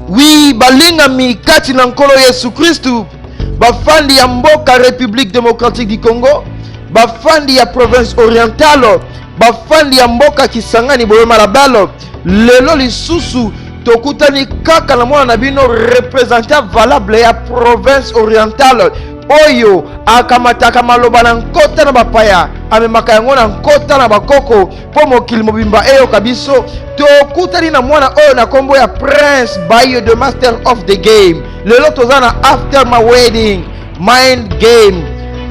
Oui, balingami kati na nkolo Yesu Kristu, bafandi ya mboka République démocratique du Congo, bafandi ya province orientale, bafandi ya mboka Kisangani boye malabalo, lelo lisusu tokutani kaka na mwana na bino représentant valable ya province orientale oyo akamataka maloba na nkota na bapaya amemaka yango na nkota na bakoko mpo mokili mobimba eyoka biso tokutani na mwana oyo na nkombo ya prince bayo the master of the game lelo toza na after my wedding mind game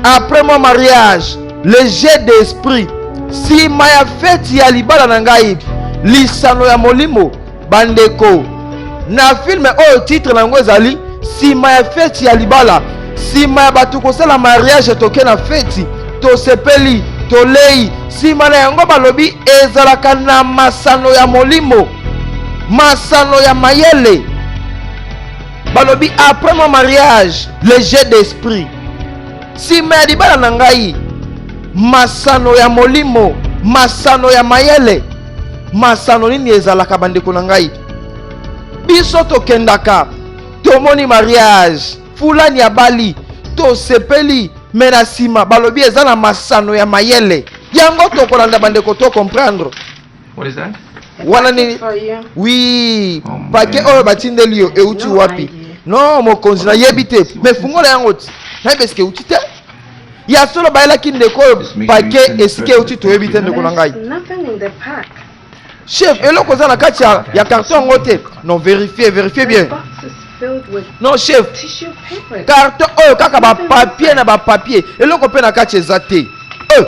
après mon mariage le jeu d'esprit nsima ya feti ya libala na ngai lisano ya molimo bandeko na filme oyo titre na yango ezali nsima ya feti ya libala nsima ya bato kosala mariage toke na feti tosepeli tolei nsima na yango balobi ezalaka na masano ya molimo masano ya mayele balobi après mon mariage le jeu d'esprit nsima ya libala na ngai masano ya molimo masano ya mayele masano nini ezalaka bandeko na ngai biso tokendaka tomoni mariage fulani abali tosepeli me na nsima balobi eza na masano ya mayele yango tokolanda bandeko to comprendre wana nini wi oh, pake oyo batindeli yo euti wapi no mokonzi nayebi te me fungola yango ti nayebi esike euti te ya solo bayelaki ndeko oyo pake esika euti toyebi te ndeko na ngai chef eloko oza na kati ya, ya carton yango te non verifie verifie bien non chef carton oyo kaka bapapier na bapapier eloko mpe na kati eza te euh.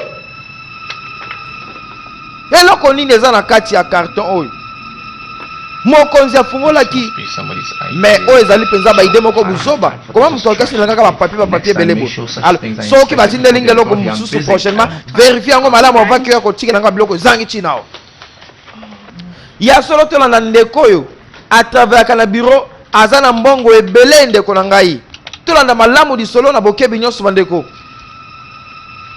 Eloko nini eza na kati ya carton oyo? mokonzi afungolaki me oyo ezali mpenza baide moko buzoba koma moto akasi na kaka bapapie bapapie ebele bo soki batindeli nga eloko mosusu prochainement verifie yango malamu avant ke ya kotika nanga biloko ezangi ntina o ya solo tolanda ndeko oyo atraveraka na biro aza na mbongo ebele ndeko na ngai tolanda malamu lisolo na bokebi nyonso bandeko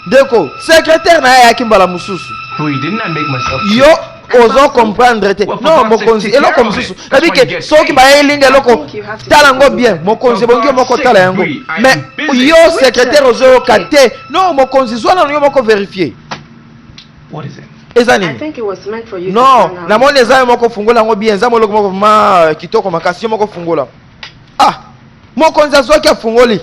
ndeko secrétaire na ye ayaki mbala mosusu yo ozo comprendre te non mokonzi eloko mosusu nabi ke soki bayelinga eloko tala yango bien mokonzi ebongi yo moko tala yango mais yo secrétaire ozoyoka te non mokonzi zwa nano yo moko verifie eza nini non namoni eza yo moko fungola yango bien eza moloko moko ma kitoko makasi yo moko fungola ah mokonzi azwaki afungoli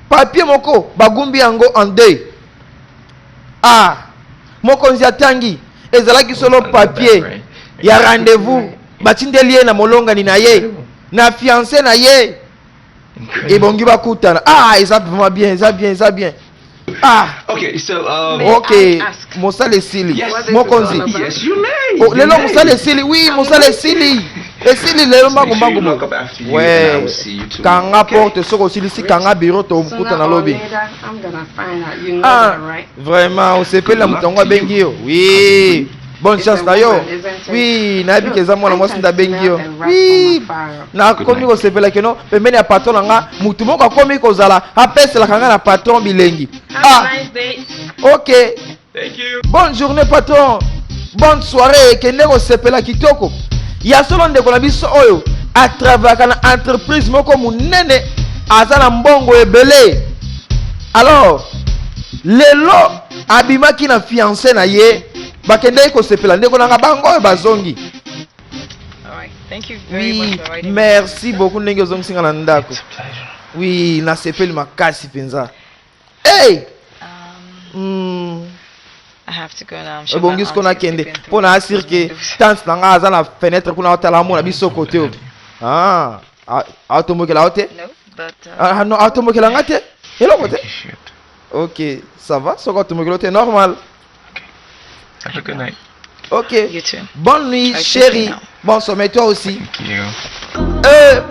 papye moko bagumbi yango en deuil ah mokonzi atangi ezalaki solo papye ya rendez-vous batindeli ye na molongani na ye na fiance na ye ebongi bakutana ah eza vraiment bien eza bien eza bien Ah. Okay, so, um, okay. mosala esili yes, mokonzi yes, you may, oh, lelo mosala esili wi mosala esili esili lelo mbangu mbangu mo we kanga porte soki osilisi kanga biro tokuta na lobi ah, vraiment osepeli na moto yango abengi yo wi bonne chance na yo wi nayebi ke eza mwana mwasi nde abengi yo wi nakomi kosepela keno pembeni ya patron na nga motu moko akomi kozala apeselaka nga na patron bilengi ah ok bonne journée patron bonne soirée kende kosepela kitoko ya solo ndeko na biso oyo atravaka na entreprise moko monene aza na mbongo ebele alors lelo abimaki na fiance na ye bakendaki kosepela ndeko nanga bango oyo bazongi oui merci beaucoup ndenge ozongisi nga na ndako oui nasepeli makasi mpenza hey! um, mm. ebongisi ko nakende mpo na asire ke tante na ngai aza na fenetre kuna otala amona biso kote oyo ah, aotombokela yo te uh, ah, aotombokela ngai te eloko te ok ça va soki otumbukilo te normal ok bonne nuit chérie bon sommeil toi aussi euh,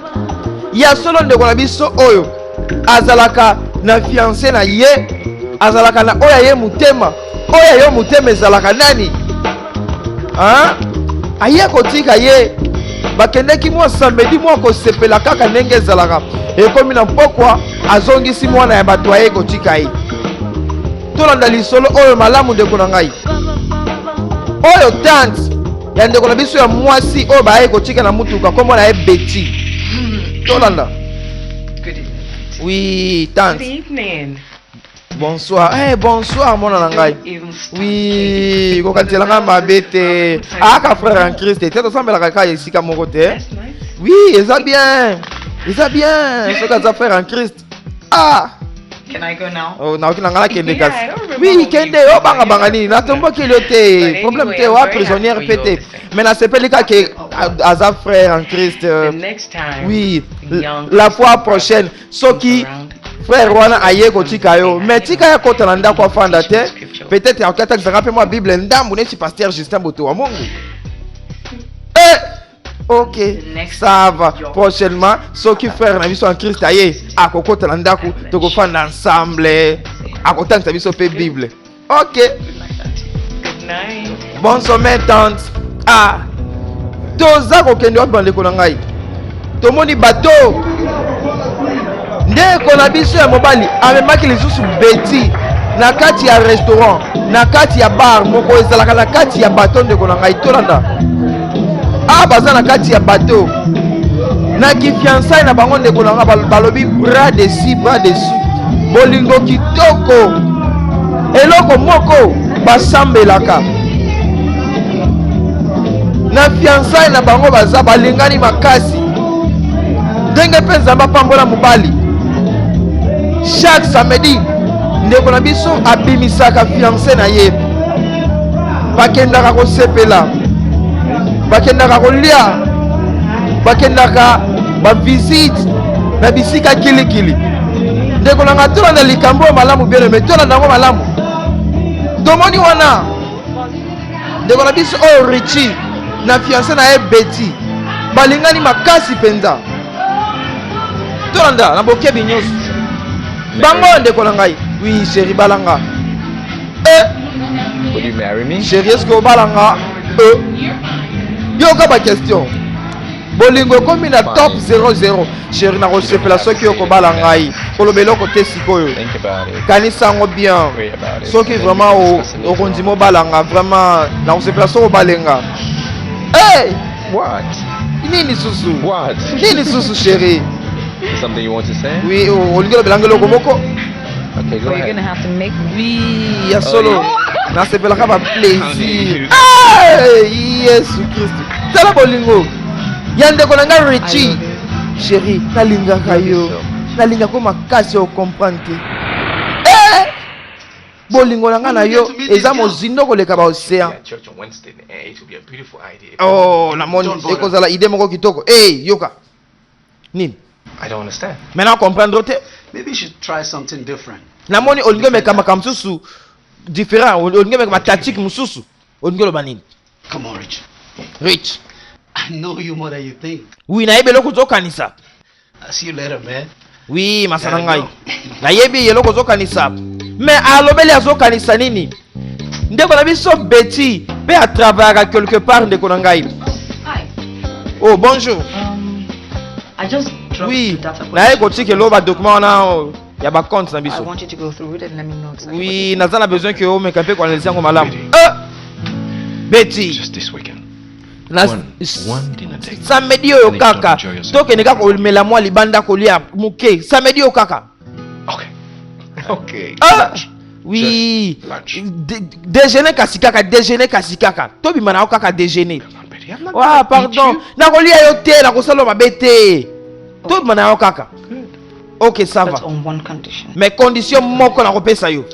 ya solo ndeko na biso oyo azalaka na fiance na ye azalaka na oyo ya ye motema oyo ya yo motema ezalaka nani ha? aye kotika ye bakendeki mwa samedi mwa kosepela kaka ndenge ezalaka ekomi na mpokwa azongisi mwana ya bato aye kotika ye tolanda lisolo oyo malamu ndeko na ngai oyo tante ya ndeko na biso ya mwasi oyo baye kotika na motuka nkombo na ye beti tolanda wi tante bonsoir hey, eh, bonsoir mwana na ngai wi kokanisela ngai mabe te aka frère en christ te tosambelaka kaka esika moko te wi eza bien eza bien soki aza frère en christ ah Can I go now? Oh, na okina ngala kende kasi. Yeah, oui, kende yo oh, banga banga nini? Na tombaki yo te. Problème te wa prisonnière pete. Mais na sepeli ka ke aza frère en Christ. Euh, oui, la fois prochaine. soki frère wana aye kotika yo mais tika ya kota na ndako afanda te peut-être akoki atakisaka mpe mwa bible ndambu neti pasteur justin boto wa mongo eh! ok ça va prochainement soki frère na biso en christ aye akokota na ndako tokofanda ensemble akotangisa biso mpe bible Ok. Good night. Bon sommeil tante. Ah. Toza kokende wapi bandeko na ngai? Tomoni bateau. Ndeko na biso ya mobali amemaki lisusu beti na kati ya restaurant na kati ya bar moko ezalaka na kati ya bateau ndeko na ngai tolanda awa ah, baza na kati ya bateau na kifiansai na bango ndeko na nga balobi bras dessus bras dessus bolingo kitoko eloko moko basambelaka na fiansai na bango baza balingani makasi ndenge mpe nzambe apambola mobali chaque samedi ndeko na biso abimisaka fianse na ye bakendaka kosepela bakendaka kolia bakendaka bavisite na bisika kilikili ndeko na ngai tolanda likambo oyo malamu bien aime tolanda yango malamu tomoni wana ndeko na biso oyo richi na fiance na ye beti balingani makasi mpenza tolanda na bokebi nyonso bango ndeko na ngai wi sheri balanga Eh. Would you marry me? Chérie, est-ce que obalanga? Euh. Yoka ba question. bolingo ekomi na top 00 sheri nakosepela soki okobala ngai koloba eloko te sikoyo kanisa yango bien soki vraiment okondima obala nga vraiment nakosepela soki obale nga hey! nini susu nini susu sheri oui olingi olobela nga eloko moko Okay, go ahead. gonna have to make Oui, ya solo. Oh, yeah. Nasepelaka ba plaisir. Hey, Yesu Kristo. Tala bolingo. Ya ndeko na ngai Richie. Chérie, nalingaka yo. Nalinga ko makasi o comprendre te. Eh! Bolingo na ngai na yo eza mozindo koleka ba océan. Oh, namoni ekozala idée moko kitoko. Eh, hey, yoka. nini I don't understand. Mais na comprendre te. Maybe you should try something different. Na moni olingi meka makambo mosusu différent, olingi meka matactique mosusu. Olingi oloba nini? Come on, Rich. Rich. I know you more than you think. Oui, nayebi eloko ozokanisa. I'll see you later, man. Oui, masa na ngai. Nayebi eloko ozokanisa. Mais alobeli azokanisa nini? Ndeko na biso Betty pe a travaillaka quelque part ndeko na ngai. Oh, bonjour. Um, I just dropped oui. to data naye kotika elo badocument wana oh, ya bacompte na biso oui naza na besoin ke omeka mpe koanalyse yango malamu eh! beti na samedi oyo kaka tokende kaka komela mwa libanda kolia moke samedi oyo kaka okay. Okay. Ah! oui déjeuner kasi kaka déjeuner kasi kaka tobima na yo kaka déjeuner wa ah, pardon nakolia yo te nakosala mabe te tobima na yo kaka Ok, ça va. Mais condition moko na kopesa yo.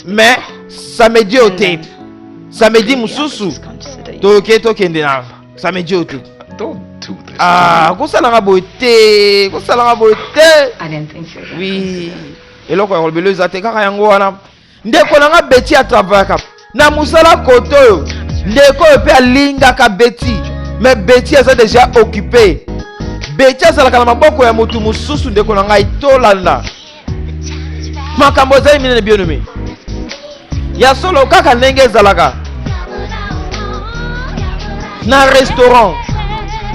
Mais ça me dit ote. Ça me dit mususu. Toke tokende na. Ça me dit ote. Ah, kosalanga boye te, kosalanga boye te. Oui. eloko ya kolobela eza te kaka yango wana Ndeko na nga Betty a travaillaka na musala kote oyo ndeko oyo mpe alingaka Betty mais Betty aza deja occupe Betty azalaka na maboko ya motu mosusu ndeko na ngai tolanda makambo ezali minene bionome ya solo kaka ndenge ezalaka na restaurant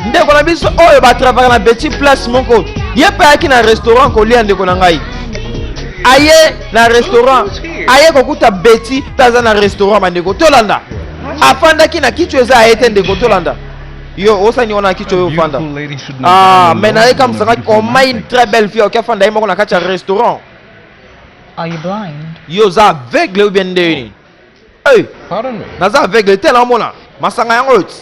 ndeko na biso oyo batravaka na Betty place moko ye mpe ayaki na restaurant kolia ndeko na ngai aye na restaurant aye kokuta beti mpe aza na restaurant bandeko tolanda afandaki na kicho eza aye te ndeko tolanda yo osani wana na kicho yo ofanda ah, me naye kamsakaki omai une très belle fille oki afanda ye moko na kati ya restaurant yo oza aveugle ou bien nde nini Hey, naza aveugle te naomona masanga yango oyo ti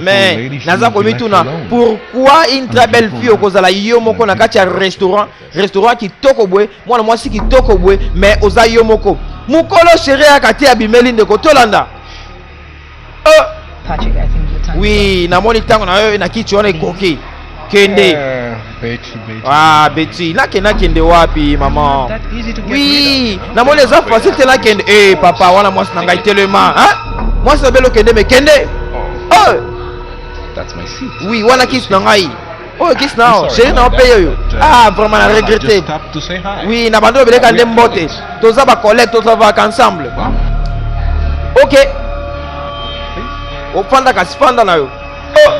mais naza komituna pourquoi une très belle fille okozala yo moko na kati ya restaurant restaurant kitoko boye mwana mwasi kitoko boye mais oza yo moko mokolo sheri yaka te abimeli ndeko tolanda Euh. Patrick, I think your time oui, namoni ntango na yo na kiti wana ekoki. Kende. Eh, Betty, Betty. Ah, Betty, nakende nakende wapi mama? Oui, namoni eza facile te nakende. Eh, papa, wana mwasi na ngai telema. Hein? Mwasi na belo kende me kende. Oh. oh. That's my seat. Oui, wana kiti na ngai. oyo kisi na yo sheri na yo mpe yeyo ah vraiment na regrette oui na bando obeleka nde mbote toza bacollègue tozavaka ensemble ok ofanda kasi fanda na yo oh,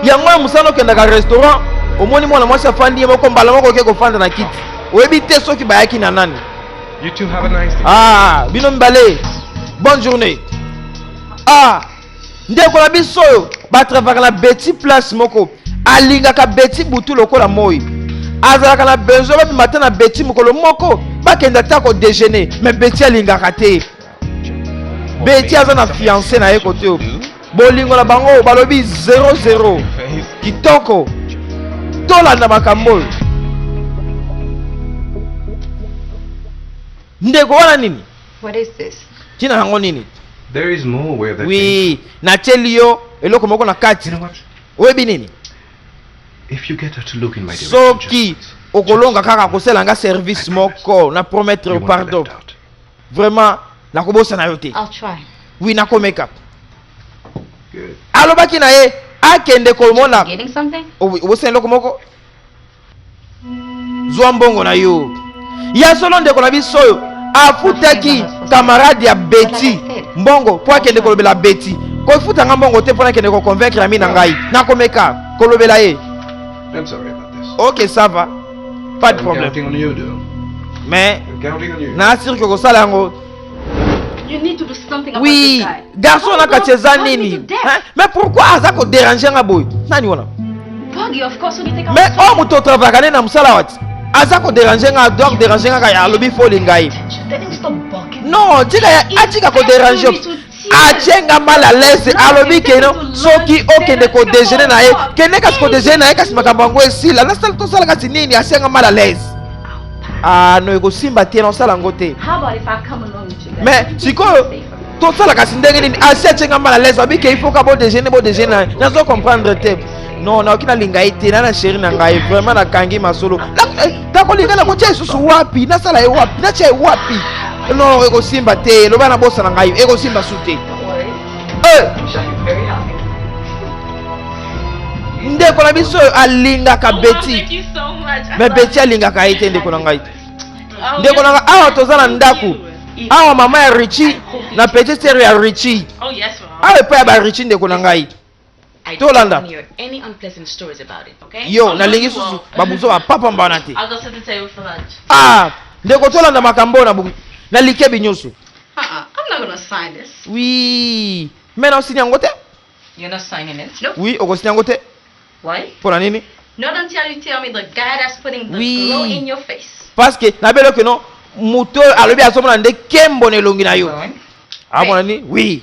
yango ya mosala okendaka restaurant omoni mwana mwasi afandi ye moko mbala moko oke kofanda na kiti oyebi te soki bayaki na nani ah bino mibale bonne journée ah ndeko na biso oyo batravaka na beti place moko alingaka beti butu lokola moi azalaka na besoin babima ata na beti mokolo moko bakenda ata kodejeuner me beti alingaka te beti aza na fiance na ye kote oyo bolingo na bango oyo balobi 00 kitoko tolanda makambo oyo ndeko wana nini What is this? Tina yango nini? There is more where that Oui, na teli yo eloko moko na kati. You know what? Oyebi nini? If you get her to look in my direction. Soki okolonga kaka kosela nga service moko na promettre pardon. Vraiment nakobosana yo te. I'll try. Oui, nakomeka. Good. Alobaki na ye akende komona. Getting something? Obosana eloko moko? zwa mbongo na yo ya solo ndeko na biso oyo afutaki kamarade ya beti mbongo mpo akende kolobela beti kofuta nga mbongo te mpo nakende koconvaincre ami na ngai nakomeka kolobela ye ok ça va pas de problème mais naasirke kosala yango oui garçon na kati eza nini mais pourquoi aza koderange nga boye nani wana mais oyo moto otravaka ne na mosala wati aza koderange nga donc derange nga kaya alobi foli ngai non tika atika koderange atie nga mal à l'aise alobi keno soki okende kodejeuner na ye kende kasi kodejeuner na ye kasi makambo yango esila nasala tosala kasi nini atie nga mal à l'aise ah no ekosimba te nasala yango te mais sikoyo tosala kasi ndenge nini asi atie nga mal à l'aise abike il faut ka bodejeuner bodejeuner na ye nazo comprendre te non naoki nalinga ye te na na sheri na ngai vraiment nakangi masolo eh, nakolinga na kotya lisusu wapi nasala ye wapi natya ye wapi non ekosimba te loba nabosana ngai ekosimba su te eh! ndeko na biso oyo alingaka beti me beti alingaka ye te ndeko na ngai oh, ndeko na ngai awa toza na ndako awa mama ya richi na petite sere ya richi oh, awa epai ya barichi ndeko na ngai tolanda yo nalingi lisusu babuzo bapapa mbana te ah ndeko tolanda makambo na buku na likebi nyonso wi me na osini yango te wi okosini yango te mpo na nini parce que nabeli oke no moto oyo alobi azomona nde kembo na elongi na yo amona nini wi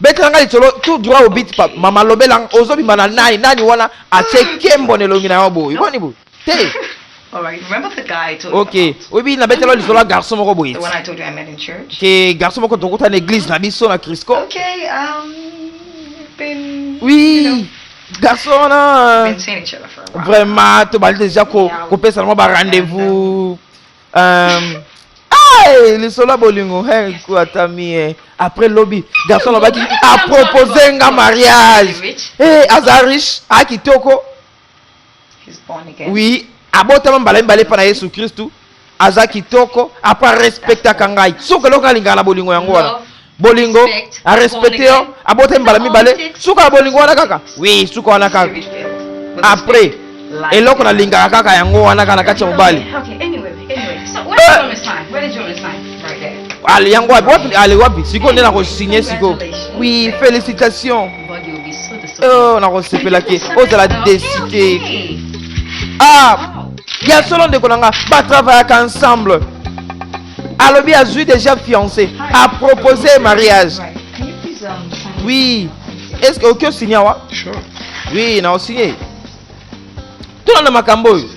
Betela nga lisolo tout droit au but papa. Mama lobela nga ozobima na nani nani wana atie kembo na elongi na yo boye. Boni boye? Te. Ok, oyebi na betela lisolo ya garçon moko boye. Ke garçon moko tokuta na église na biso na Crisco. Ok, um, been, oui. You know, garçon wana vraiment tobali deja kopesana mwa barendez-vous Um, Hey, lisolo ya bolingo hey, ata mie après lobi garçon alobaki apropose nga mariage hey, aza riche aa kitoko oui abotama mbala mibale mpa na yesu kristu aza kitoko apa respectaka ngai soki eloko alingaka na bolingo yango wana bolingo a respecte yo abota mbala mibale suka ya bolingo wana kaka wi suka wana kaka après eloko nalingaka kaka yango wana kaka na kati ya mobali ale yango wapi wapi ale wapi sikoyo nde nakosigne sikoyo wi félicitation oh, nakosepela ke ozala desite ah ya solo ndeko na nga batravayaka ensemble alobi azwi déjà fiancé a proposer mariage oui est ce que oki osigne awa oui na osigne tuna na makambo oyo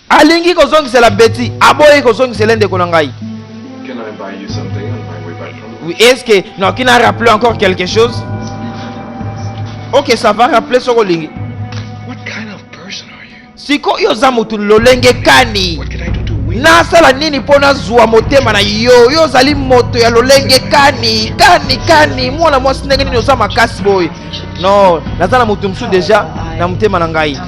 alingi kozongisela beti aboyi kozongisela ndeko na ngai oui est ce que naoki na rappeler encore quelque chose ok ça va rappeler soki olingi Siko yo oza motu lolenge kani? nasala nini mpo nazwa motema na yo yo ozali moto ya lolenge kani kani kani mwana mwasi ndenge nini oza makasi boye no naza na moto mosusu deja na motema na ngai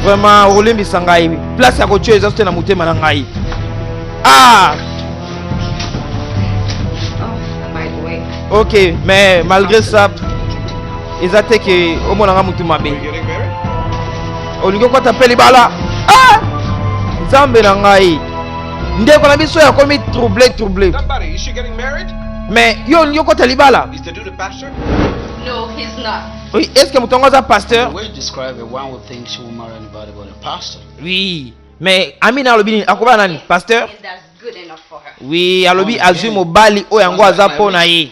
vraiment okolimbisa ngai place ya kotyo eza sote na motema na ngai ah ok mais malgré ça eza te ke omona nga mutu mabe olingi okwata mpe libala ah! nzambe na ngai ndeko na biso yakomi trouble trouble mais yo olingi okota libala No, he's not. Oui, est-ce que moto yango aza pasteur Oui, mais Amina alobi nini akoba nani pasteur Oui, alobi azwi mobali oyo yango aza mpo na ye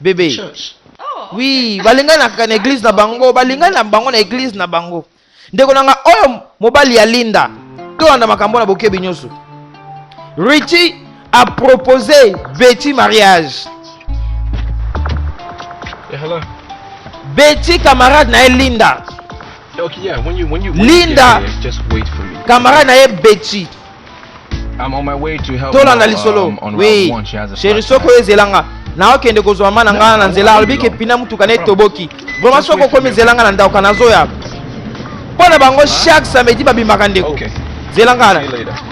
bebe oui balinganaka na eglise na bango balingani na bango na eglise na bango ndeko na nga oyo mobali ya linda tolanda makambo na bokebi nyonso richie a propose beti mariage yeah, beti camarade na ye linda okay, yeah, when you, when you, when linda camarade na ye beti tolanda lisolo um, wi sheri soko ezela nga naokende kozwa ma na nga na nzela alobi ke pina motuka na etoboki vraimen soko okomi ezela nga na ndauka nazoya mpo na bango chaque samedi babimaka ndeko okay. zela nga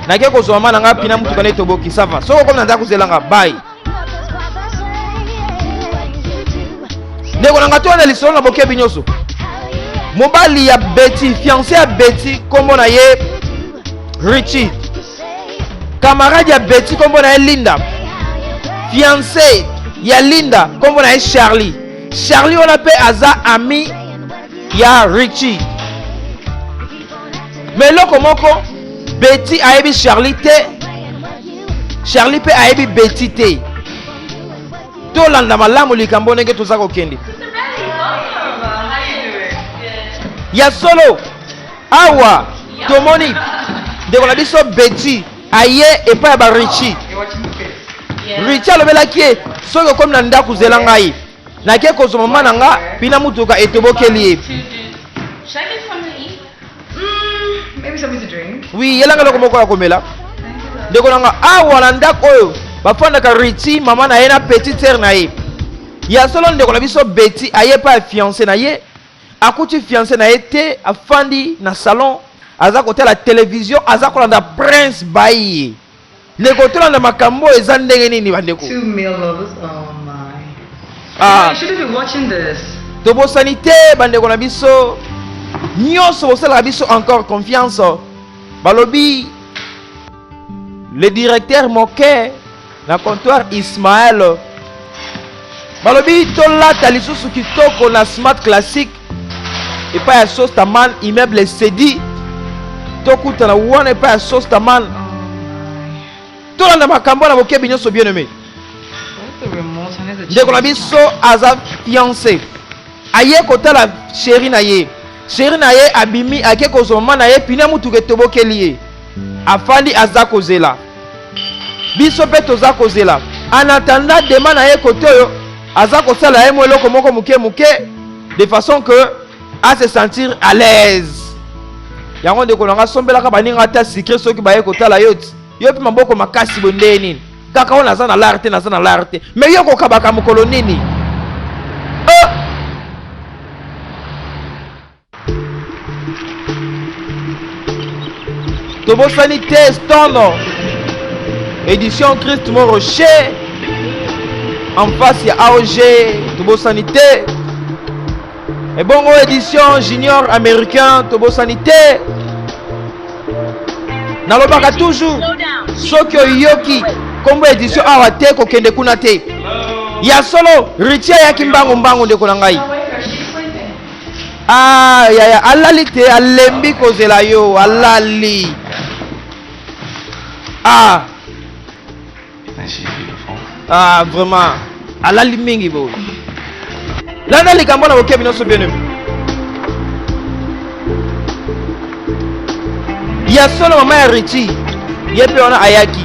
nake kozwa ma na nga pina motuka na etoboki sava soko okomi na ndako zela nga bai ndeko na ngai toya na lisolo na bokebi nyonso mobali ya beti fiance ya beti nkombo na ye richi kamarade ya beti nkombo na ye linda fiance ya linda nkombo na ye charlie charlie wana mpe aza ami ya richi me eloko moko beti ayebi charlie te charlie mpe ayebi beti te tolanda malamu likambo ndenge toza kokende ya solo awa tomoni ndeko na biso beti aye epai ya barichi richi alobelaki ye soki okomi na ndako zela ngai nake kozwa mama na nga mpina motuka etobokeli ye wi yelanga eloko moko ya komela ndeko na nga awa na ndako oyo bafandaka riti mama na ye na petit sere na ye ya solo ndeko na biso beti aye epai ya fiance na ye akuti fiance na ye te afandi na salon aza kotala televizio aza kolanda prince baye Ndeko tolanda makambo oyo eza ndenge nini bandeko? Two male lovers, oh my. Ah. You shouldn't be watching this. Tobosani te bandeko na biso nyonso bosalaka biso encore confiance balobi le directeur moke na comptoir Ismaël balobi tolata lisusu kitoko na smart classique epai ya sostaman immeuble sedi tokutana wana epai ya sostaman tolanda makambo na bokebi nyonso bien aimé ndeko na biso aza fiancé aye kotala sheri na ye sheri na ye abimi ake kozwa mama na ye pine ya motuka etobokeli ye afandi aza kozela Biso pe toza kozela. En attendant dema na ye kote oyo aza kosala ye mo eloko moko moke moke de façon que a se sentir à l'aise. Yango ndeko na nga sombelaka baninga ata secret soki baye kotala yo ti. Yo pe maboko makasi boye ndenge nini? Kaka wana aza na lar te naza na lar te. Mais yo kokabaka mokolo nini? tobosani te stono édition christ mo rocher en face ya aog tobosani te ebongo édition junior américain tobosani te nalobaka toujours soki oyoki nkombo édition awa te kokende kuna te ya solo ritie ayaki mbangu mbangu ndeko na ngai Ah, yaya alali te alembi kozela yo alali ah. ah vraiment alali mingi boye landa likambo na bokebi nyonso bino ya solo mama ya richi ye mpe wana ayaki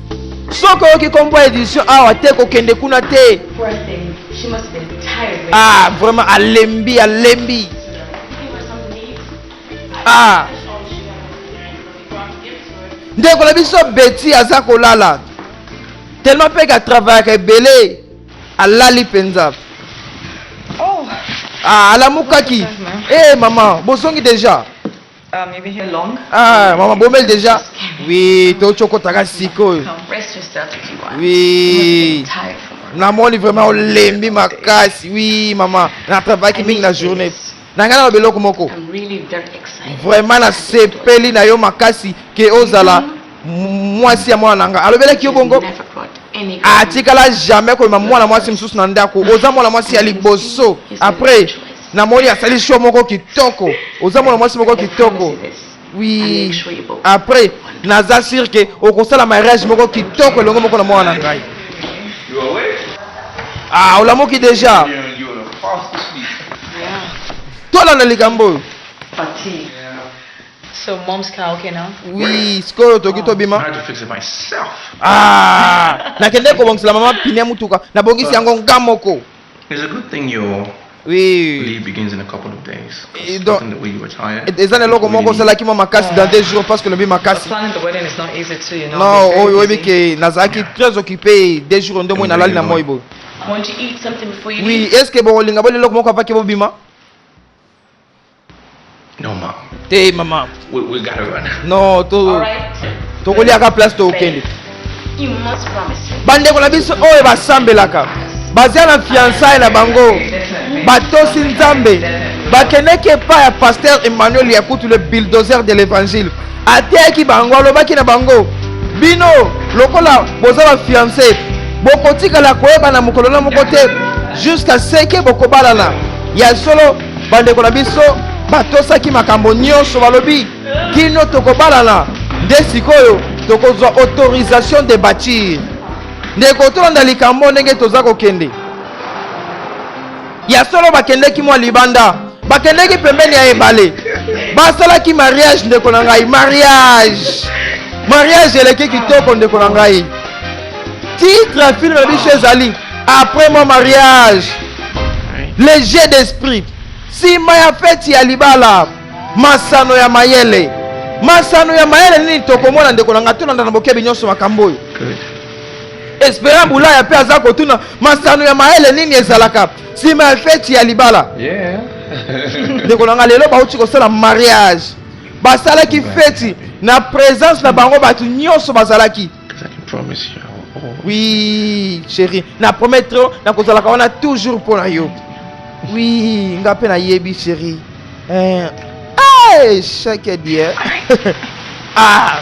soki oyoki kombo ya edition awa te kokende kuna te ah vraiment alembi alembi ah ndeko na biso beti aza kolala tellement mpe katravaillaka ebele alali mpenza oh. ah, alamukaki e hey, eh, mama bozongi deja Uh, maybe here long. Ah, maman Bomel déjà. Oui, to choko taka siko. Rest your stuff if you want. Oui. namoni vraiment olembi makasi wi mama natravaillaki mingi na journée na ngai na biloko moko vraiment nasepeli na yo makasi ke ozala mm-hmm. mwasi ya mwana na ngai alobelaki yo bongo atikala jamais koyema mwana mwasi mosusu na ndako oza mwana mwasi ya liboso après Na moi asali show moko kitoko. Oza mwana mwasi moko kitoko. Oui. Après, naza sûr que okosala mariage moko kitoko elongo moko na mwana na ngai. Ah, olamuki déjà. Tolanda likambo oyo. So mom's cow okay now? Oui, sikoyo toki oh. tobima. I had to fix it myself. Ah, nakende kobongisela mama pine mutuka. Nabongisi yango nga moko. It's a good thing your oui. leave begins in a couple of days. Et donc, the way you were tired. Et ça, loko moko osalaki mwa makasi dans deux jours parce que lobi makasi. Non, oh, oyo oyebi ke nazalaki très occupé deux jours nde moi nalali na moi boye. Oui, est-ce que bokolinga bolela eloko moko apaki bobima? No, mom. Hey, mama. We, we gotta run. No, to. All right. tokoliaka place tokende bandeko na biso oyo basambelaka baza na fiançaille na bango batosi nzambe bakendeki epai ya paster emmanuel ya kutu le bulldozer de l'évangile ateyaki bango alobaki na bango bino lokola boza bafiance bokotikala koyebana mokolo na moko te jusqu'à ce ke bokobalana ya solo bandeko na biso batosaki makambo nyonso balobi kino tokobalana nde sikoyo tokozwa autorisation de bâtir ndeko tolanda likambo ndenge toza kokende ya solo bakendeki mwa libanda bakendeki pembeni ya ebale basalaki mariage ndeko na ngai mariage mariage eleki kitoko ndeko na ngai titre ya filme na biso ezali après mon mariage léger d'esprit nsima ya feti ya libala masano ya mayele masano ya mayele nini tokomona ndeko na ngai tolanda na bokebi nyonso makambo oyo esperan bulaya mpe aza kotuna masano ya mayele nini ezalaka nsima ya feti ya libala ndeko na ngai lelo bauti kosala mariage basalaki feti na presence na bango bato nyonso bazalaki oui chéri na promettre yo nakozalaka wana toujours mpo na yo oui nga mpe nayebi chéri eh, eh, chaque die ah.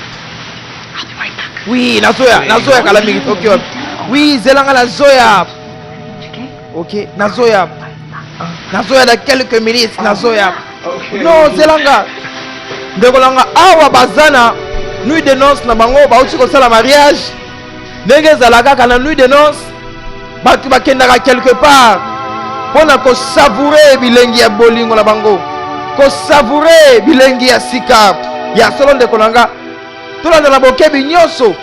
oui nazoya nazoya kala mingi toki wapi oui zela nga nazoya ok nazoya nazoya na quelques minutes nazoya no zelanga ndeko na nga awa baza na nuit de noce na bango bauti kosala mariage ndenge ezala kaka na nuit de noce bato bakendaka quelque part mpo na kosavoure bilengi ya bolingo na bango kosavoure bilengi ya sika ya solo ndeko na nga tolanda na bokebi nyonso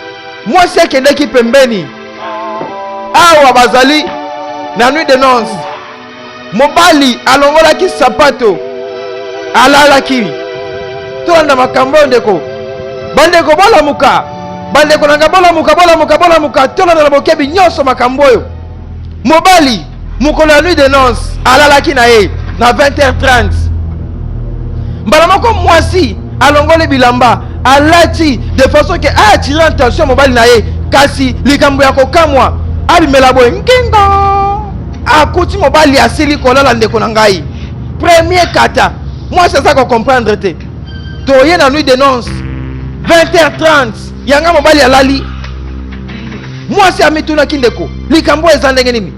mwasi akendaki pembeni awa bazali na nuit de nonce mobali alongolaki sapato alalaki tolanda makambo oyo ndeko bandeko bolamuka bandeko na ngai bolamuka bolamuka bolamuka tolanda na bokebi nyonso makambo oyo mobali mokolo ya nuit de nonce alalaki na ye na 20h30 mbala moko mwasi alongoli bilamba alati de façon ke aatire attention mobali na ye kasi likambo ya kokamwa abimela boye nkinga akuti mobali asili kolala ndeko na ngai premier kata mwasi aza kocomprendre te toye na nuit de nonce 20h30 yanga mobali alali mwasi amitunaki ndeko likambo eza ndenge nini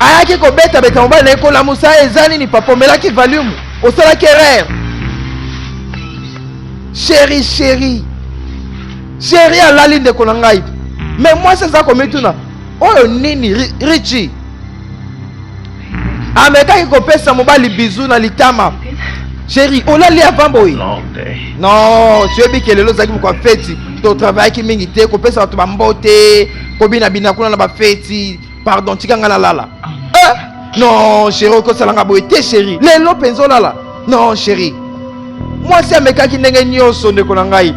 ayaki kobetabeta mobali na ye kolamusa eza nini papa omelaki valiume osalaki erreur sheri sheri sheri alali ndeko na ngai me mwasi aza komituna oyo nini richi amekaki kopesa mobali bizu na litama sheri olali avant boye non soyebi ke lelo ozalaki mokwa feti totravaillaki mingi te kopesa bato bambote kobinabina kuna na bafeti pardon tika ngai nalala eh? non sheri okosala ngai boye te sheri lelo mpenza olala non sheri mwasi amekaki ndenge nyonso ndeko na ngai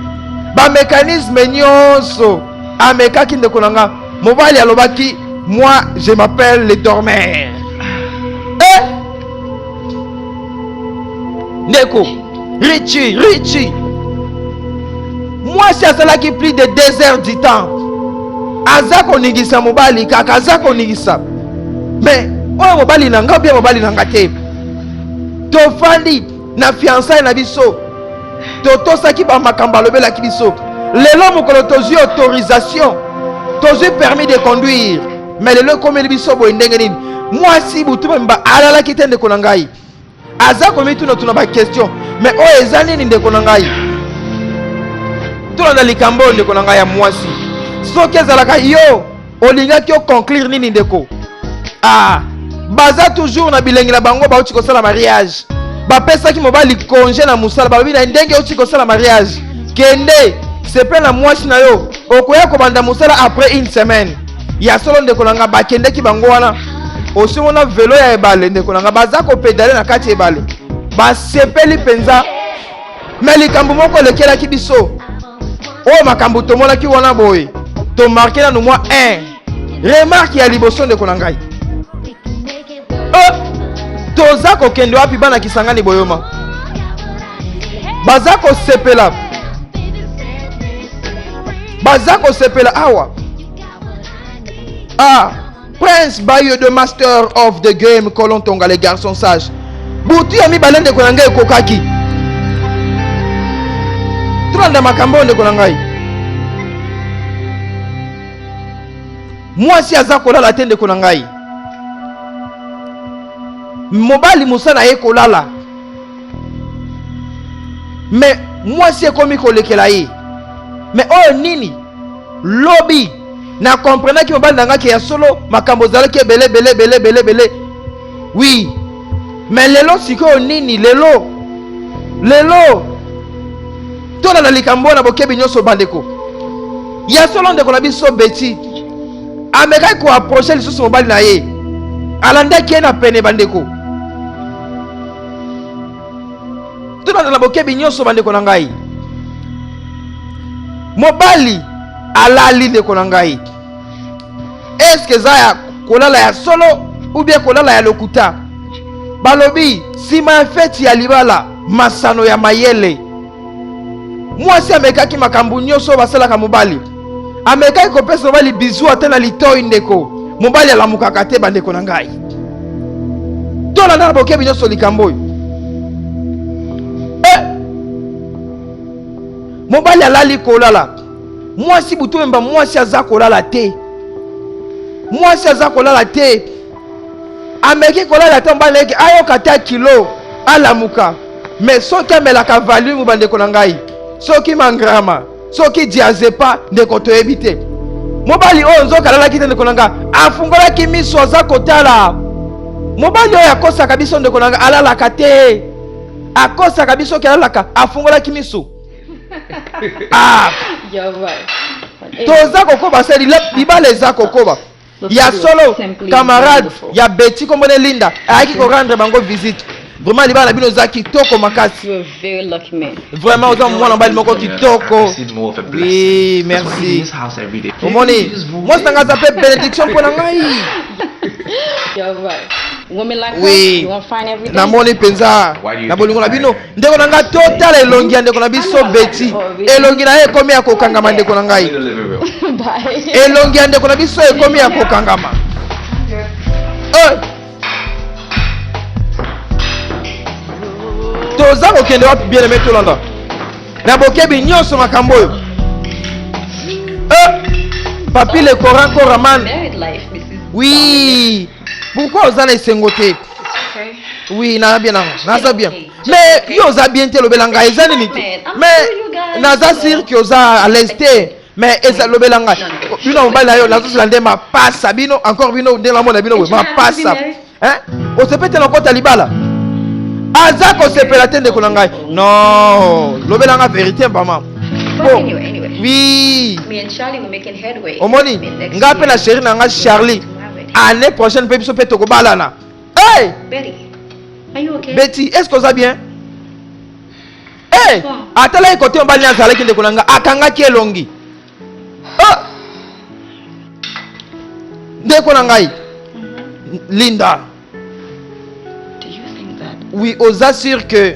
bamekanisme nyonso amekaki ndeko na ngai mobali alobaki moi je m'appelle le dormeur eh? ndeko richi richi mwasi azalaki plus de deux heures du temps aza koningisa mobali kaka aza koningisa me oyo mobali na ngai mpe mobali na ngai te tofandi na fiansaye na biso totosaki bamakambo alobelaki biso lelo mokolo tozwi autorisation tozwi permis de conduire me lelo ekomeli biso boye ndenge nini mwasi butu bamimba alalaki te ndeko na ngai aza komitunatuna bakestion me oyo eza nini ndeko na ngai tolanda likambo oyo ndeko na ngai ya mwasi soki ezalaka yo olingaki o conclure nini ndeko ah baza toujours na bilengi na bango bauti kosala mariage bapesaki mobali konge na mosala balobi na ndenge outi kosala mariage kende sepela na mwasi na yo okoya kobanda mosala après une semaine ya solo ndeko na ngai bakendeki bango wana osimona velo ya ebale ndeko na ngai baza kopedale na kati ya ebale basepeli mpenza me likambo moko elekelaki biso oyo makambo tomonaki wana boye tomarke nanu mwa 1 remarke ya liboso ndeko na ngai eh, toza kokende wapi bana kisangani boyoma baza kosepela baza kosepela awa ah. Prince Bayo de Master of the Game Colon Tonga les garçons sages butu ya mibale ndeko na ngai ekokaki tolanda makambo oyo ndeko na ngai mwasi aza kolala te ndeko na ngai mobali mosala ye kolala me mwasi ekomi kolekela ye me oyo nini lobi na comprenaki mobali na ngai ke ya solo makambo ezalaki ebele ebele ebele ebele ebele wi me lelo sikoyo nini lelo lelo tolanda likambo wana bokebi nyonso bandeko ya solo ndeko na biso beti amekaki koaproche lisusu mobali na ye alandaki ye na pene bandeko tolanda na bokebi nyonso bandeko na ngai mobali alali ndeko na ngai eske eza ya kolala ya solo ubie kolala ya lokuta balobi nsima ya feti ya libala masano ya mayele mwasi amekaki makambo nyonso oyo basalaka mobali amekaki kopesa mobali bizu ata na litoi ndeko mobali alamukaka te bandeko na ngai tolanda na bokebi nyonso likambo oyo eh! mobali alali kolala mwasi butu memba mwasi aza kolala te mwasi aza kolala te ameki kolala ata mobali eke ayoka ata kilo alamuka me soki amelaka valimu bandeko na ngai soki mangrama soki diazepa ndeko toyebi te mobali oyo nzoka alalaki te ndeko na nga afungolaki miso aza kotala mobali oyo akosaka biso ndeko na nga alalaka te akosaka biso ke alalaka afungolaki miso ah. toza kokoba se libala eza kokoba ya solo camarade ya beti kombo ne linda ayaki ko rendre bango visite vraiment libala na bino eza kitoko makasi vraiment oza mwana mobali moko kitoko oui merci omoni mwasi na ngai aza mpe benediction mpo na ngai oui namoni mpenza na bolingo na bino ndeko na ngai totala elongi ya ndeko na biso beti elongi na ye ekomi ya kokangama ndeko na ngai elongi ya ndeko na biso ekomi ya kokangama eh! toza kokende wapi bien aime tolanda na bokebi nyonso makambo oyo eh! papi le coran coraman wi pourquoi oza na esengo te oui naza bien nango naza bien mais yo oza bien te lobela ngai eza nini te mais naza sire ke oza à l'aise te mais eza lobela ngai bino mobali na yo nazozela nde mapasa bino encore bino nde namona bino boye mapasa osepete na kota libala aza kosepela te ndeko na ngai non lobela ngai verité mama oui omoni ngai mpe na sheri na ngai charlie année prochaine mpe biso mpe tokobalana hey! beti est ce que oza bien hey! atalaki kote mobali na azalaki ndeko na nga akangaki elongi ah! ndeko na ngai mhm. linda oui oza sur que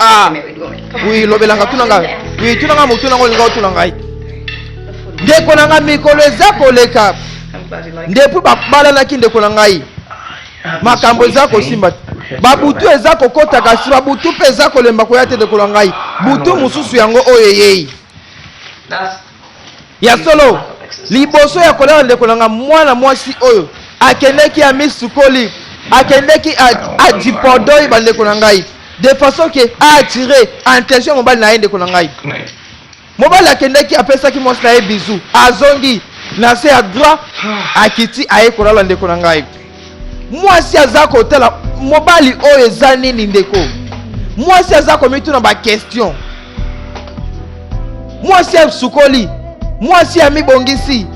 ah oui lobelanga tuna nga oui tuna nga motuna nga olinga otuna ngai ndeko na ngai mikolo eza koleka ndepui babalanaki ndeko na ngai makambo eza kosimba te babutu eza kokota kasi babutu mpe eza kolemba koya te ndeko na ngai butu mosusu yango oyo eyei Ya solo, liboso ya kolala ndeko na nga, mwana mwasi oyo akendeki amisukoli, akendeki adipodoi bandeko na ngai de façon ke aattire attention ya mobali na ye ndeko na ngai mobali akendeki apesaki mwasi na ye bizu azongi na se ya droit akiti aye kolala ndeko na ngai mwasi aza kotala mobali oyo eza nini ndeko mwasi aza komituna bakestion mwasi asukoli mwasi amibongisi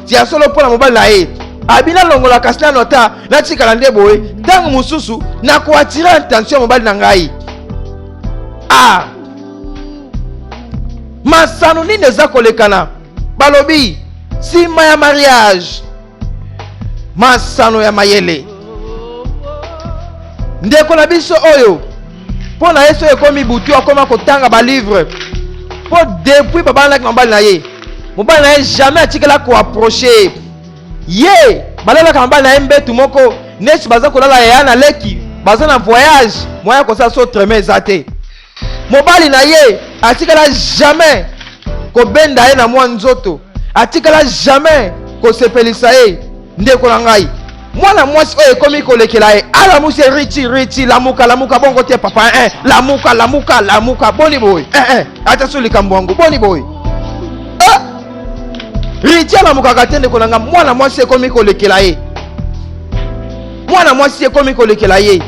ya solo mpo na mobali na ye abi nalongola kasi nano ata natikala nde boye ntango mosusu nakoatire attention ya mobali na ngai a masano nini eza kolekana balobi nsima ya mariage masano ya mayele ndeko na biso oyo mpo na ye soki ekomi butu akoma kotanga balivre mpo depuis babalanaki mobali na ye mobali na ye jamais atikala koaproche ye ye balalaka mobali na ye mbetu moko neti baza kolala yaya na leki baza na voyage moya kosala so treme eza te mobali na ye atikala jamais kobenda ye na mwa nzoto atikala jamais kosepelisa ye ndeko na ngai mwana mwasi oyo ekomi kolekela ye alamusi ah, riti riti lamuka lamuka bongo te papa eh, eh. lamuka lamuka lamuka boni boye eh, eh. ata so likambo yango boni boye eh. riti alamukaka te ndeko na ngai mwana mwasi ekomi kolekela ye mwana mwasi ekomi kolekela ye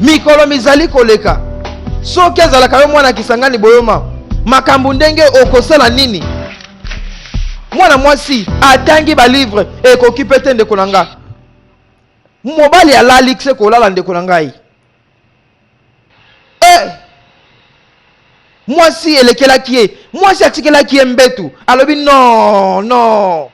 mikolo mizali koleka soki azalaka yo mwana kisangani boyoma makambo ndenge okosala nini mwana mwasi atangi balivre ekoki mpe te ndeko na nga mobali alali se kolala ndeko na ngai e mwasi elekelaki ye mwasi atikelaki ye mbetu alobi no no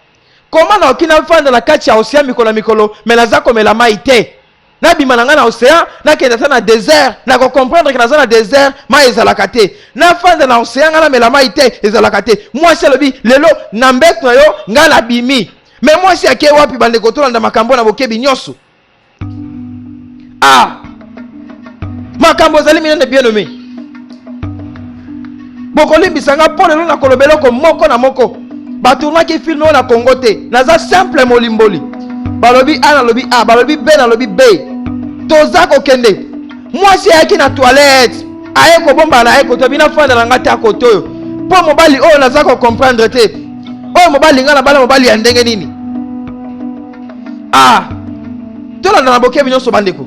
koma naoki nafanda na kati ya osia mikolo na mikolo me naza komela mai te nabima na ngai na ocean nakende ata na desert nakocomprendre ke naza na desert mai ezalaka te nafanda na ocean ngai namela mai te ezalaka te mwasi alobi lelo na mbeto na yo ngai nabimi me mwasi ake wapi bandeko tolanda makambo na bokebi nyonso a ah! makambo ezali minene bien nomi bokolimbisa nga mpo lelo nakoloba eloko moko na moko batournaki filme oyo na congo te naza simple molimboli balobi a nalobi a balobi b nalobi b toza kokende mwasi ayaki na toilette aye kobomba na ye koto abi nafanda na ngai te akoto oyo mpo mobali oyo naza kocomprendre te oyo mobali ngai na bala mobali ya ndenge nini a ah, tolanda na bokebi nyonso bandeko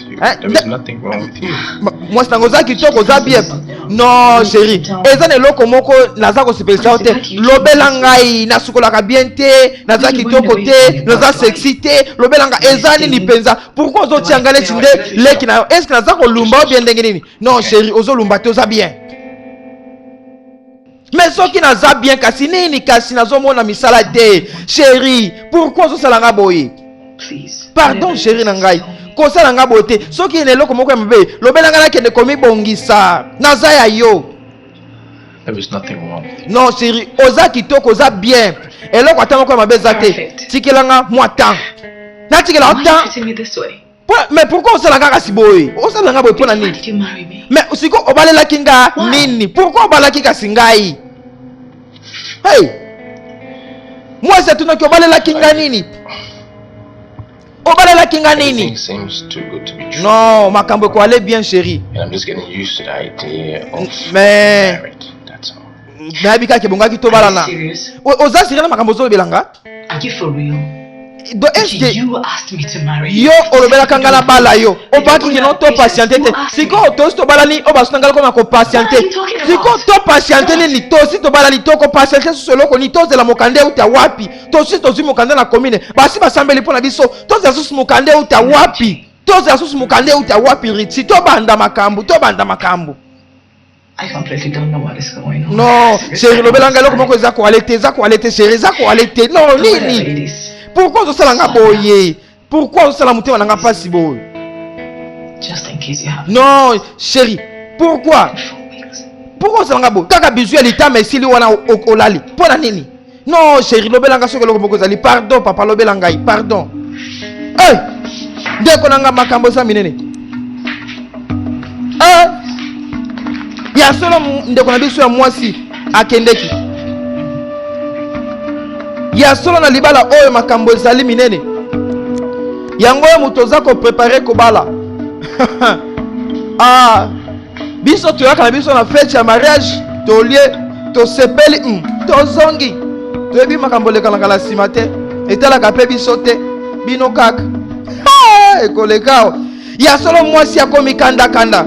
Eh, mwasi nango oza kitoko oza bien non chéri eza na eloko moko naza kosepelisa yo te lobela ngai nasukolaka bien te naza kitoko te naza sexy te lobela ngai eza nini mpenza pourkui ozotia ngai neti nde leki na yo estce naza kolumba yo bien ndenge nini non chéri ozolumba te oza bien Mais soki naza bien kasi nini kasi nazomona misala te chérie pourquoi ozosala nga boye pardon chérie na ngai kosala nga boye te soki ena eloko moko ya mabe lobela ngai nakende komibongisa naza ya yo non chérie oza kitoko oza bien eloko ata moko ya mabe eza te tikela nga mwa temps natikela temps mais pourquoi osala kaka si boye osala nga boye mpo na nini mais siko obalelaki nga nini pourquoi obalaki kasi ngai hey mwasi atunaki obalelaki nga nini obalelaki nga nini non makambo ekoale bien chéri mais nayebi kaka ebongaki tobalana oza sirena makambo ozolobela nga Aki for real? do eske yo olobelaka ngai nabala yo opaki kino to patiente te sikoyo tosi tobalani oyo basuna ngai lokoma kopatiente sikoyo to patiente nini tosi tobalani tokopatiente susu eloko nini tozela mokanda euta wapi tosi tozwi mokanda na komine basi basambeli mpo na biso tozela susu mokanda euta wapi tozela susu mokanda euta wapi riti tobanda makambo tobanda makambo non seri lobela ngai eloko moko eza koale te eza koale te seri eza koale te non nini pourkui ozosala nga boye pourkui ozosala motema na nga mpasi boye non seri pourkui pourkui ozosala nga boye kaka bizu ya litama esili wana olali mpo na nini non sheri lobela nga soki eloko moko ezali pardon papa lobela ngai pardon hey! Eh! ndeko na nga makambo eza minene hey! Eh! ya solo ndeko na biso ya mwasi akendeki ya solo na libala oyo makambo ezali minene yango oyo moto oza koprepare kobala ah. biso toyaka na biso na fete ya mariage tolie tosepeli mm, tozongi toyebi makambo olekalaka na nsima te etalaka mpe biso te bino kaka ekolekao ya solo mwasi akomikandakanda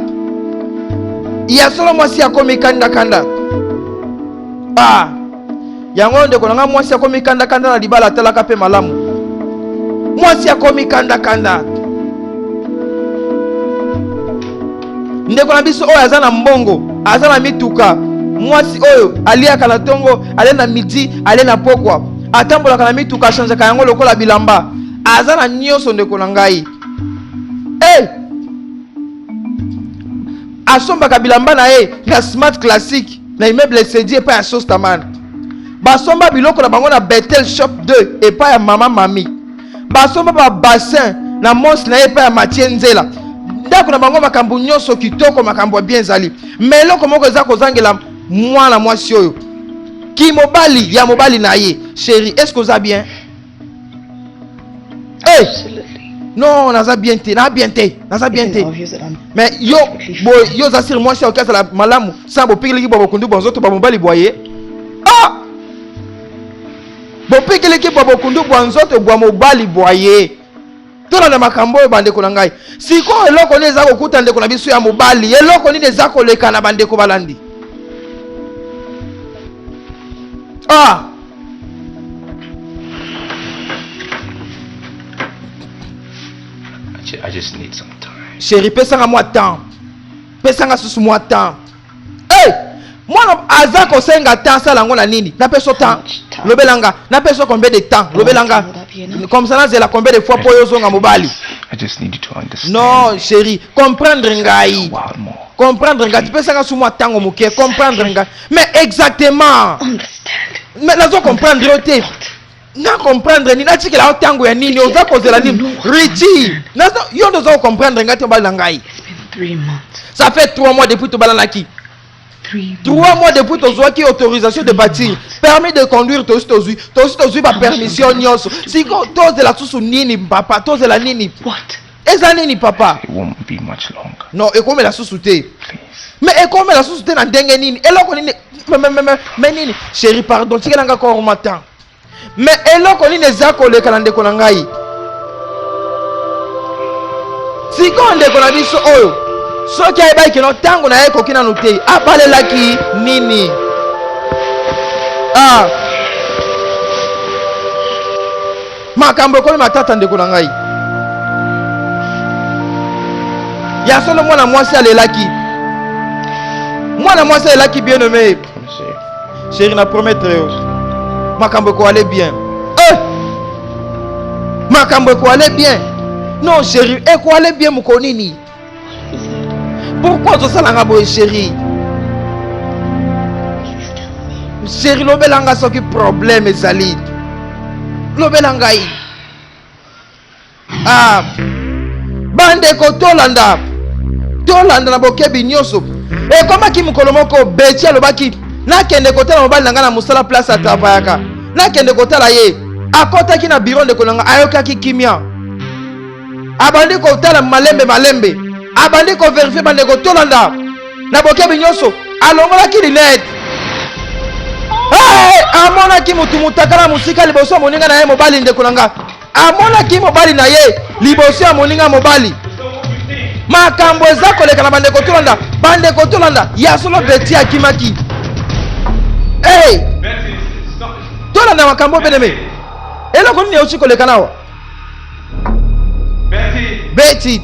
ya solo mwasi akomikandakanda ah. yango ndeko na ngai mwasi akomi kandakanda na libala atalaka mpe malamu mwasi akomi kandakanda ndeko na biso oyo aza na mbongo aza na mituka mwasi oyo aliaka na ntongo ale na midi ale na pokwa atambolaka na mituka achanjaka yango lokola bilamba aza na nyonso ndeko na ngai hey! Eh! asombaka bilamba na ye na smart classique na immeuble Esedi epai ya Sostaman. Basomba biloko na bango na Bethel Shop 2 epai ya mama Mami. Basomba ba bassin na monsi na ye epai ya Mathieu Nzela. Ndako na bango makambo nyonso kitoko, makambo ya bien ezali. Mais eloko moko eza kozangela mwana mwasi oyo. Kimobali ya mobali na ye. Chérie, est-ce que oza bien? Hey! non naza bien te na bien te naza bien te mais yo bo yo oza siri mwasi aoki azala malamu sa bopikeleki bwa bokundu bwa nzoto bwa mobali bwa ye ah! bopikeleki bwa bokundu bwa nzoto bwa mobali bwa ye tolanda makambo oyo bandeko na ngai sikoyo eloko nini eza kokuta ndeko na biso ya mobali eloko nini eza koleka na bandeko balandi ah. chéri pesanga mwa temps pesanga susu mwa temps Hey! mwana aza kosenga temps asala yango na nini na peso temps lobela nga na peso combien de temps lobela nga comme ça nazela combien de fois mpo yo ozonga mobali non chéri comprendre ngai comprendre ngai tipesanga su mwa ntango moke comprendre ngai mais exactement mais nazo comprendre yo te na comprendre nini natikela yo ntango ya nini oza kozela nini richi yo nde oza kocomprendre ngai te obali na ngai ça fait trois mois depuis tobalanaki trois mois depuis tozwaki autorisation de bâtir permis de conduire tosi tozwi tosi tozwi bapermission nyonso siko tozela susu nini papa tozela nini eza nini papa non ekomela susu te me ekomela susu te na ndenge nini eloko nini me nini chéri pardon tikela nga korma temps me eloko nini eza koleka na ndeko na ngai sikoyo ndeko na biso oyo soki ayebaki kino ntango na ye ekoki nanu te abalelaki nini ah. makambo ekomi matata ndeko na ngai ya solo mwana mwasi alelaki mwana mwasi alelaki bien nomme Chéri na promettre yo makambo ekoale bien eh! makambo ekoale bien non chéri ekoale bien mokolo nini pourkui ozosalanga boye chéri chéri lobela nga soki problème ezali lobela ngai Ah, bandeko tolanda tolanda na bokebi nyonso ekomaki mokolo moko beti alobaki nakende kotala mobali na ngai na mosala place atravayaka nakende kotala ye akotaki na biro ndeko na ngai ayokaki kimia abandi kotala malembe malembe abandi koverifie bandeko tolanda na bokebi nyonso alongolaki linete hey! amonaki motu motakala mosika liboso ya moninga na ye mobali ndeko na ngai amonaki mobali na ye liboso ya moninga mobali makambo eza koleka na bandeko tolanda bandeko tolanda ya solo beti akimaki hey! tolanda makambo beneme eloko nini euti koleka nawa beti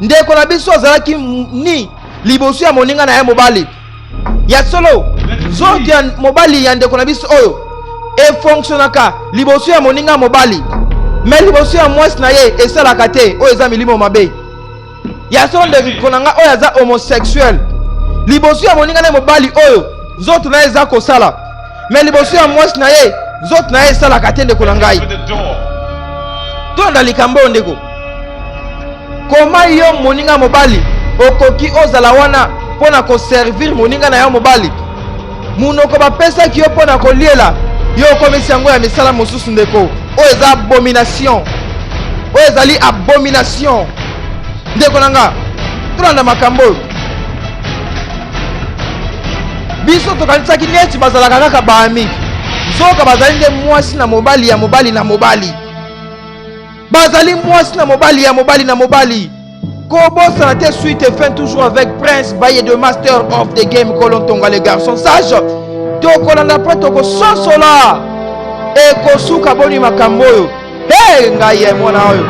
ndeko na biso azalaki ni liboso ya moninga na ye mobali ya solo nzoto ya mobali ya ndeko na biso oyo efonksionaka liboso ya moninga ya mobali me liboso ya mwasi na ye esalaka te oyo eza milimo mabe ya solo ndeko na ngai oyo aza homosexuel liboso ya moninga na ye mobali oyo nzoto na ye eza kosala me liboso ya mwasi na ye nzoto na ye esalaka te ndeko na ngai tolanda likambo oyo ndeko koma yo moninga mobali okoki ozala wana mpo na koservire moninga na yo mobali monoko bapesaki yo mpo na koliela yo okomisi yango ya misala mosusu ndeko oyo eza abomination oyo ezali abomination ndeko na nga tolanda makambo oyo biso tokanisaki neti bazalaka kaka baami nzoka bazali nde mwasi na mobali ya mobali na mobali bazali mwasi na mobali ya mobali na mobali kobosana te suite et fin toujours avec prince baye de master of the game kolontonga le garçon sage tokolanda mpe tokososola ekosuka boni makambo oyo hey ngai ye mwana oyo